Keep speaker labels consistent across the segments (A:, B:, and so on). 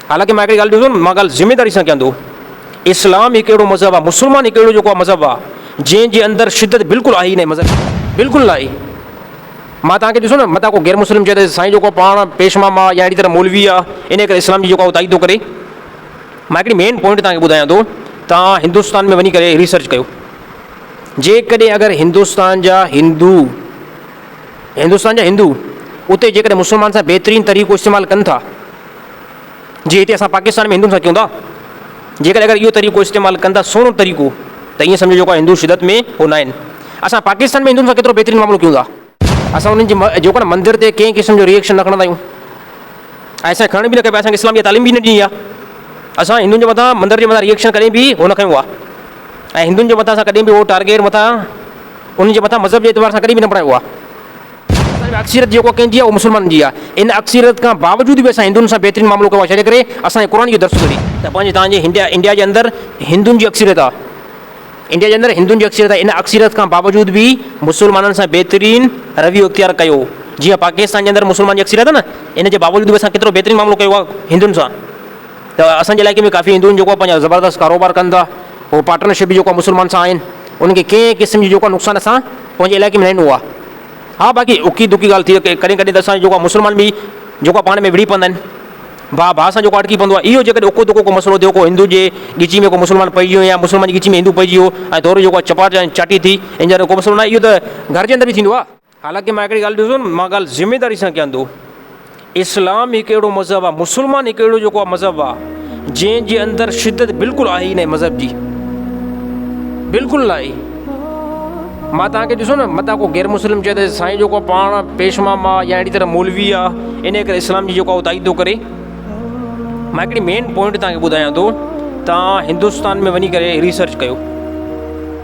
A: حالانڪ مان هڪڙي ڳالهه ڏسو نه مان ڳالهه ذميواري سان ڪيان ٿو اسلام هڪ اهڙو مذهب آهي مسلمان هڪ اهڙو جيڪو مذهب آهي جنهن جي اندر شدت بلڪل آهي ئي ناهي مذهب بلڪل ناهي مان توهان کي ڏسو نه متان ڪو غير مسلم چئي ته سائين جيڪو پاڻ پيش مام آهي يا اهڙي طرح مولوي آهي ان ڪري اسلام جي جيڪو آهي تائيد ٿو ڪري مان هڪڙي مين پوائنٽ توهان کي ٻڌايان ٿو توهان هندستان ۾ وڃي ڪري ريسرچ ڪيو جيڪڏهن اگر هندستان جا هندو هندستان جا هندو اتي جيڪڏهن مسلمان سان بهترين طريقو استعمال ڪن ٿا جي هتي اسان پاڪستان ۾ هندن سان ڪيون ٿا جيڪڏهن اگر اهو طريقو استعمال ڪن ٿا سهڻو طريقو ته ائين سمجهو جيڪو هندو شدت ۾ هو نه آهن اسان پاڪستان ۾ هندن سان ڪيترو بهترين معاملو ڪيون ٿا اسان انهن جي جيڪو نه مندر تي ڪنهن قسم جو ريئيڪشن نه کڻندا آهيون ۽ اسان کڻڻ به نه کپي اسان کي اسلام جي تعليم به نه ڏني آهي اسان هندن جي مٿان مندر جي مٿان ريئيڪشن ڪڏهن به هو نه کنيو آهي ۽ هندن جي مٿان اسان ڪڏهن به هو ٽارگيٽ مٿان انهن جي مٿان مذهب جي اعتبار سان ڪڏهن به نه بڻايو آهي. اسان ۾ اڪثريت جيڪو ڪنهن جي آهي اها مسلمانن جي آهي. ان اڪثريت کان باوجود به اسان هندن سان بهترين معاملو ڪيو آهي ڇا جي ڪري اسان کي قرآن اهو درس ٿو ڏي. ته پنهنجي توهان جي هنڊيا انڊيا جي اندر هندن جي اڪثريت آهي. انڊيا جي اندر هندن جي اڪثريت آهي. ان اڪثريت کان باوجود به مسلمانن سان بهترين رويو اختيار ڪيو. جيئن پاڪستان جي اندر مسلمان جي اڪثريت آهي نه ان جي باوجود به اسان ڪيترو بهترين معاملو ڪيو آهي هندن سان. ته اسان جي علائقي ۾ ڪافي هندو آهن جيڪو پنهنجا زبردست ڪاروبار ڪن ٿا هو پارٽنر شپ جيڪو مسلمان سان آهن انهن کي ڪنهن قسم جي جيڪو نقصان اسان پنهنجي علائقي ۾ نه ڏنو آهي ها باقي اڪي دڪي ڳالهه ٿي ڪڏهن ڪڏهن ته اسان جيڪو مسلمان به جيڪو پاڻ ۾ وڙهي پوندا آهن ڀاء ڀاء سان جيڪو اٽڪي پوندو آهي اهو جيڪڏهن اڪو دڪو ڪو مسئلو ٿيو ڪو هندو جي ڳچي ۾ ڪو مسلمان پئجي ويو يا مسلمان جي ڳچي ۾ هندو پئجي ويو ۽ ٿورو جيڪو چپاٽ ۽ چاٽي ٿي ان جا ڪو مسئلو نه اهو ته گهر جي اندر به ٿيندو آهي حالانڪه مان هڪڙي ڳالهه ڏسو نه مان ڳالهه ذميداري سان ڪيان ٿو اسلام هڪ اهڙو مذهب آهي مسلمان هڪ اهڙو جيڪو آهي مذهب آهي جنهن جي اندر شدت بلڪل آهي نه مذهب جي بلڪل نه آهي ماں تاکي ڏسو نه مت کو غير مسلم چئي ته سائين جيڪو پاڻ پيشما ماں يا اهڙي طرح مولوي آهي ان ڪري اسلام جي جيڪو آهي تائيد ڪري ماں هڪڙي مين پوائنٽ تاکي ٻڌايان ٿو تاکي هندوستان ۾ وڃي ڪري ريسرچ ڪيو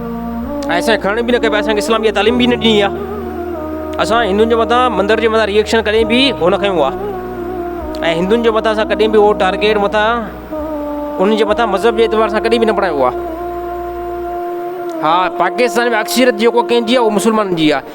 A: اسان کڻڻ به نه کپي اسان کي اسلام جي تعليم به نه ڏني آ اسان هندن جي مٿان مندر جي مٿان ريئڪشن ڪڏهن به هو نه کنيو آ ۽ هندن جي مٿان اسان ڪڏهن به هو ٽارگيٽ مٿان انهن جي مٿان مذهب جي اعتبار سان ڪڏهن به نه بڻايو آ ها پاڪستان ۾ اڪثريت جيڪو ڪنهن جي آ اهو مسلمانن جي آ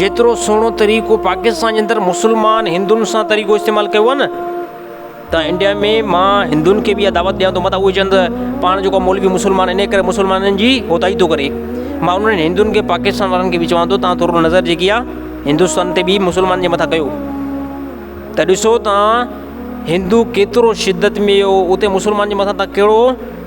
A: جيترو سهڻو طريقو پاڪستان جي اندر مسلمان هندن سان طريقو استعمال ڪيو آهي نه ته انڊيا ۾ مان هندن کي بي دعوت ڏيان ٿو مطلب اهي چند پاڻ جو مولوي مسلمان ان ڪري مسلمانن جي اوتائي ٿو ڪري مان انهن هندن کي پاڪستان وارن کي بي چوان ٿو تان ٿورو نظر جيڪي آهي هندستان تي بي مسلمان جي مٿان ڪيو ته ڏسو تان هندو ڪيترو شدت ۾ هو اتي مسلمان جي مٿان تان ڪهڙو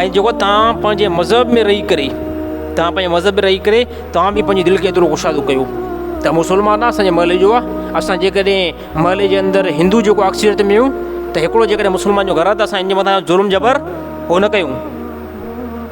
A: ۽ جيڪو توهان پنهنجي مذهب ۾ رهي ڪري توهان پنهنجي مذهب ۾ رهي ڪري توهان به پنهنجي دل کي ايترو ڪشادو ڪيو ته مسلمان آ اسانجي محلي جو آ اسان جيڪڏهن محلي جي اندر هندو جيڪو اڪثريت ۾ هيون ته هڪڙو جيڪڏهن مسلمان جو گهر آ ته اسان ان جي مٿان ظلم جبر ڪو نه ڪيون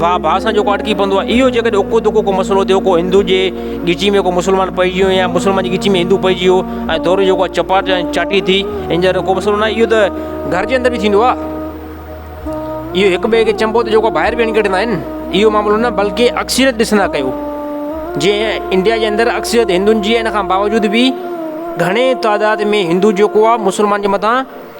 A: ڀاء ڀاء سان جيڪو اٽڪي پوندو آهي اهو جيڪڏهن اڪو دڪو ڪو مسئلو ٿيو ڪو هندو جي ڳچيء ۾ ڪو مسلمان پئجي ويو يا مسلمان جي ڳچيء ۾ هندو پئجي ويو ۽ دورو جيڪو آهي چپاٽ يا چاٽي ٿي ان جا رڳو مسئلو ناهي اهو ته گهر جي اندر به ٿيندو آهي اهو هڪ ٻئي کي چئبو ته جيڪو ٻاهر وينگڙ ڪڍندا آهن اهو معاملو نه بلڪه اڪثريت ڏسندا ڪيو جيئن انڊيا جي اندر اڪثريت هندوئن جي ان کان باوجود به گهڻي تعداد ۾ هندو جيڪو آهي مسلمان جي مٿان